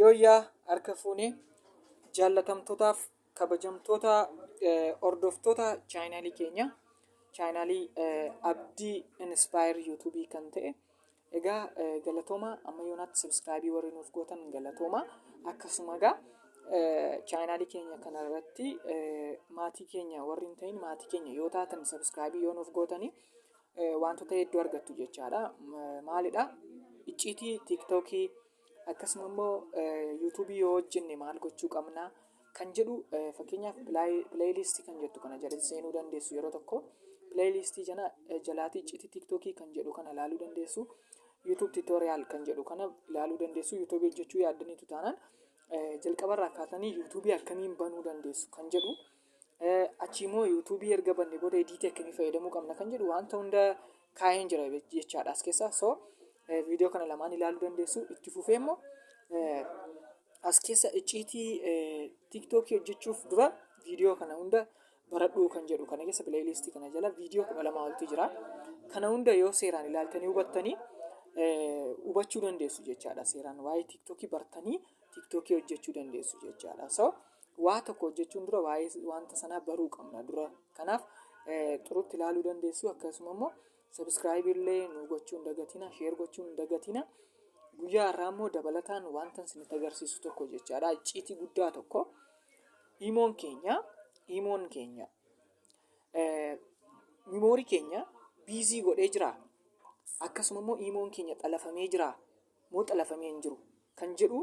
Yooyyaa harka fuune jaallatamtootaaf kabajamtoota hordoftoota chaayinaalii keenya chaayinaalii abdii inspire yuutuubii kan ta'e egaa galatooma amma yoonaatti sabskraayibii warri nuuf gootan galatooma akkasuma egaa chaayinaalii keenya kana irratti maatii keenya warri hin ta'in maatii keenya yoo taatan sabskraayibii yoo nuuf gootanii wantoota hedduu argattu jechaadha maalidha icciitii tiiktookii Akkasuma immoo yuutuubii yoo hojjenne maal gochuu qabna kan jedhu fakkeenyaaf pileeyiliistii kan jettu kana jala seenuu dandeessu yeroo tokko pileeyiliistii jana jalaatii iccitii tiiktookii kan jedhu kana ilaaluu dandeessu yuutuub tiitooriyaal kan jedhu kana ilaaluu dandeessu yuutuubii hojjechuu yaaddaniitu taanaan jalqabarraa kaatanii yuutuubii akkamiin banuu dandeessu kan jedhu Achii immoo yuutuubii erga banne booda ediitii akkamii fayyadamuu qabna kan jedhu wanta hunda kaa'een jira jechaadha as keessa so viidiyoo kana lamaan ilaaluu dandeessu itti fufee immoo as keessa icciitii tiktookii hojjechuuf dura viidiyoo kana hunda baradhuu kan jedhu kana keessa pileeyiliistii kana jala viidiyoo kudha lamaa oltu jira kana hunda yoo seeraan ilaaltanii hubattanii hubachuu dandeessu jechaadha seeraan waa'ee tiktookii bartanii tiktookii hojjechuu dandeessu jechaadha so Waa tokko hojjechuun dura waa'ee wanta sanaa baruu qabna dura. Kanaaf xurutti ilaaluu dandeessu akkasuma immoo sabiskiraayib illee nu gochuun dagatina sheer gochuun dagatina. Guyyaa irraa immoo dabalataan wanta isinitti agarsiisu tokko jechaadha. Icciitii guddaa tokko. Imoon keenya imoon keenya mimoorii keenya biizii godhee jira. Akkasuma immoo imoon keenya xalafamee jira. moo xalafamee hin jiru kan jedhu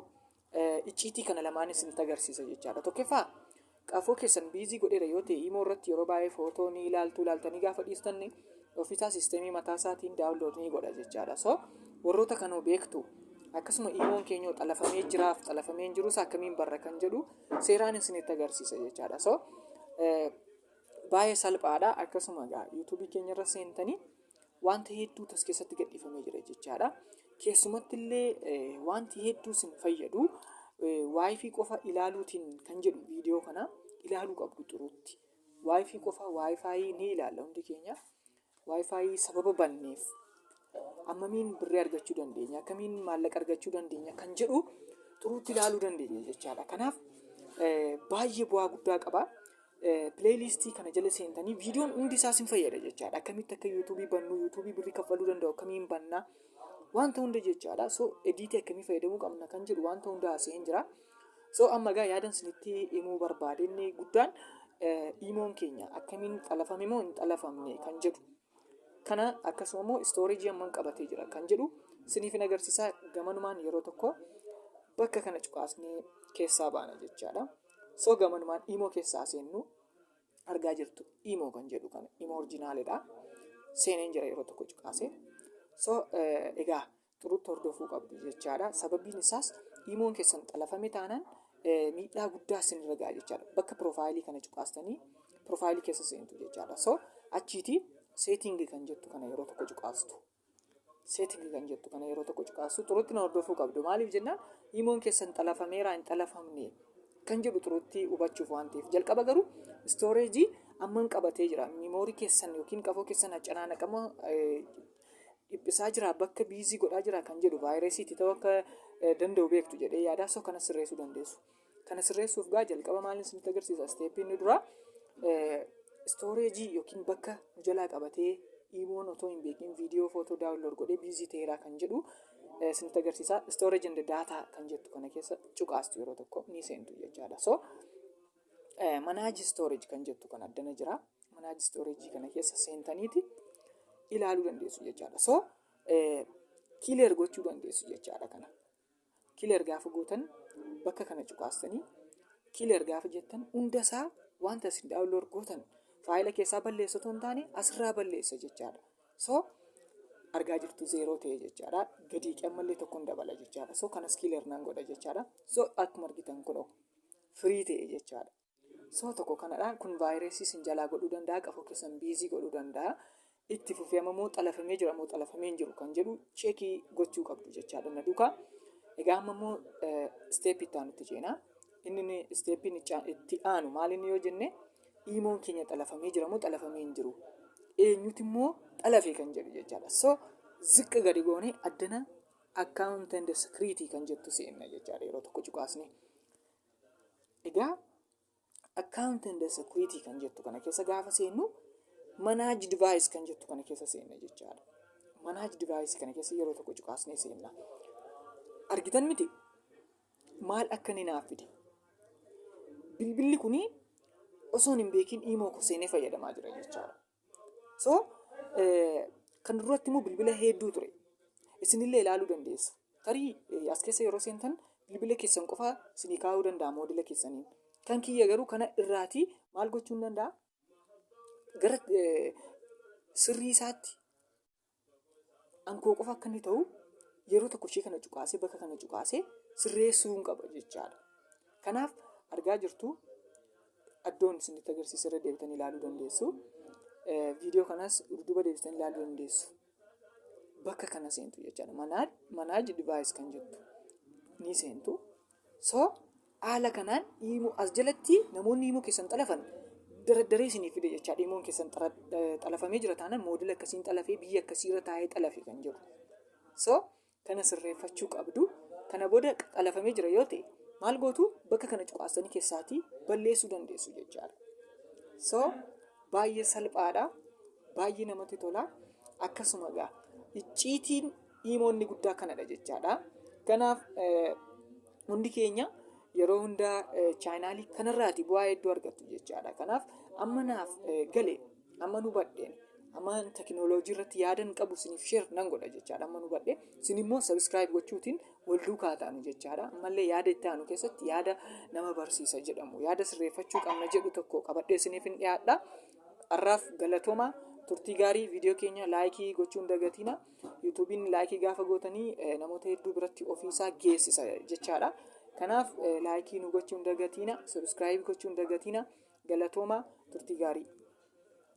icciitii kana lamaan isinitti agarsiisa jechaadha. Tokkoffaa qafoo keessan biizii godheera yoo ta'e imoo irratti yeroo baay'ee footoo ni ilaaltu ilaaltanii gaafa dhiistanne ofiisaa siisteemii mataa isaatiin daawunlood ni godha jechaadha. So warroota kanoo beektu akkasuma imoon keenyoo xalafamee jiraaf xalafamee hin jiruus akkamiin barra kan jedhu seeraan isinitti agarsiisa jechaadha. So baay'ee salphaadha akkasuma egaa yuutuubii keenya irra seentanii Wanta hedduutu as keessatti gadhiifamee jira jechaadha. Keessumatti illee wanti hedduu sin fayyadu waayifii qofa ilaaluutiin kan jedhu viidiyoo kana ilaaluu qabdu xuruutti. Waayifii qofa waayifaayii ni ilaalla hundi keenya. Waayifaayii sababa banneef ammamiin birrii argachuu dandeenya akkamiin maallaqa argachuu dandeenya kan jedhu xuruutti ilaaluu dandeenya jechaadha. Kanaaf baay'ee bu'aa guddaa qaba. Pileeyliistii kana jala seentanii viidiyoon hundi isaa sin fayyada jechaadha. Akkamitti akka yuutuubii bannu, yuutuubii birrii kaffaluu danda'u akkamiin banna, wanta hunda jechaadha. So ediitii akkamii fayyadamuu qabna kan jedhu wanta hunda haasa'een jira. So amma egaa yaadan sinitti himuu barbaade inni guddaan iimoon keenya akkamiin xalafame moo hin xalafamne kan jedhu. kana akkasuma immoo istooreejii amman qabatee jira kan jedhu siniifin agarsiisaa gamanumaan yeroo tokko bakka kana cuqaasnee keessaa baana jechaadha. So gamanumaan imoo keessaa seennu argaa jirtu imoo kan jedhu kana imoo orjinaalidha. Seeneen jira yeroo tokko cuqaase. So egaa xurutti hordofuu qabdu jechaadha. Sababiin isaas imoon keessan xalafame taanaan miidhaa guddaa isinirra ga'a jechaadha. Bakka piroofaayilii kana cuqaastanii piroofaayilii keessa seentu jechaadha. So achiiti seetingi kan jettu kana yeroo tokko cuqaastu. Seetingi kan jettu kana yeroo tokko cuqaastu xurutti na hordofuu qabdu. Maaliif jennaan imoon keessan xalafameeraa hin xalafamne kan jedhu xurutti hubachuuf waan ta'eef. Jalqaba garuu istooreejii amman qabatee jira. Miimoorii keessan yookiin qafoo keessan haccanaanaqama dhiphisaa jira bakka biizii godhaa jira kan jedhu vaayirasii itti ta'uu akka eh, danda'u beektu jedhee yaadaa soo kana sirreessuu dandeessu. Kana sirreessuuf gaa jalqaba maaliin isinitti agarsiisa isteeppiin inni duraa eh, istooreejii yookiin bakka nu jalaa qabatee iimoon otoo hin beekin viidiyoo footoo daawunlood godhee biizii ta'eeraa kan jedhu eh, isinitti agarsiisa istooreejii and daataa kan jettu kana keessa cuqaastu yeroo tokko ni seentu jechaadha. So eh, manage storage kan jettu kan addana jira. Manaaj storage kana keessa seentaniiti ilaaluu dandeessu jechaadha. So kileer gochuu dandeessu jechaadha kana. Kileer gaafa gootan bakka kana cuqaastanii kileer gaafa jettan hundasaa wanta isin daawunlood gootan faayila keessaa balleessu otoo hin taane asirraa balleessa jechaadha. So argaa jirtu zeeroo ta'e jechaadha. Gadii qammallee tokko hin dabala jechaadha. So kanas kileer nan godha jechaadha. So akkuma argitan kunoo firii ta'e jechaadha. Soo tokko kanadha. Kun vaayirasii isin jalaa godhuu danda'a. Qafoo keessan biizii godhuu danda'a. Itti fufee amma immoo xalafamee jira moo xalafamee hin jiru kan jedhu cheekii gochuu qabdu jechaadha na duukaa. Egaa amma immoo isteepii itti aanutti ceena. Inni inni isteepiin icha- itti aanu maal inni yoo jenne iimoon keenya xalafamee jira moo xalafamee hin jiru. Eenyuti immoo xalafee kan jedhu jechaadha. So ziqqa gadi goonee addana account and security kan jettu seenna jechaadha yeroo tokko cuqaasnee. Egaa account and security kan jettu kana keessa gaafa seennu manage device kan jettu kana keessa seenna jechaadha. Manage device kana keessa yeroo tokko cuqaasnee seenna. Argitan miti maal akka inni naaf fide. Bilbilli kuni osoon hin beekin imoo koo seenee fayyadamaa jira jechaadha. So kan duratti immoo bilbila hedduu ture. Isinillee ilaaluu dandeessu. Tarii as keessa yeroo seentan bilbila keessan qofa isinii kaa'uu danda'a moodila keessaniin. Kan kiyya garuu kana irraatii maal gochuun danda'a? Gara sirrii isaatti An koo qofa akka inni ta'u yeroo tokko ishee kana cuqaasee bakka kana cuqaasee sirreessuun qaba jechaadha. Kanaaf argaa jirtu iddoon isinitti agarsiisa irra deebitanii ilaaluu dandeessu. Eh, Viidiyoo kanas dudduuba deebitanii ilaaluu dandeessu. Bakka kana seentu jechaadha. Manage, manage device kan jettu ni seentu. So haala kanaan iimoo as jalatti namoonni iimoo keessan xalafan daraddaree isiniif fide jechaadha. Iimoon keessan xalafamee jira taanaan moodela akkasiin xalafee biyya akkasiirra taa'ee xalafe kan jedhu. So kana sirreeffachuu qabdu. Kana booda xalafamee jira yoo ta'e maal gootu bakka kana cuqaasanii keessaatii balleessuu dandeessu jechaadha. So baay'ee salphaadha. Baay'ee namatti tola. Akkasuma egaa icciitiin Imoo inni guddaa kanadha jechaadha. Kanaaf hundi keenya yeroo hundaa chaayinaalii kanarraati bu'aa hedduu argattu jechaadha. Kanaaf amma naaf gale amma nu badheen amma tekinooloojii irratti yaadan qabu isiniif sheer nan godha jechaadha amma nu badhee isin immoo sabiskiraayib gochuutiin wal duukaa taanu jechaadha. Ammallee yaada itti aanu keessatti yaada nama barsiisa jedhamu yaada sirreeffachuu qabna jedhu tokko qabadhee isiniif hin dhiyaadha. Har'aaf galatooma turtii gaarii viidiyoo keenya laayikii gochuun dagatiina. Yuutuubiin laayikii gaafa gootanii eh, namoota hedduu biratti ofiisaa geessisa jechaadha. Kanaaf eh, laayikii nu gochuun dagatiina, sabiskiraayibii gochuun dagatiina. Galatooma turtii gaarii.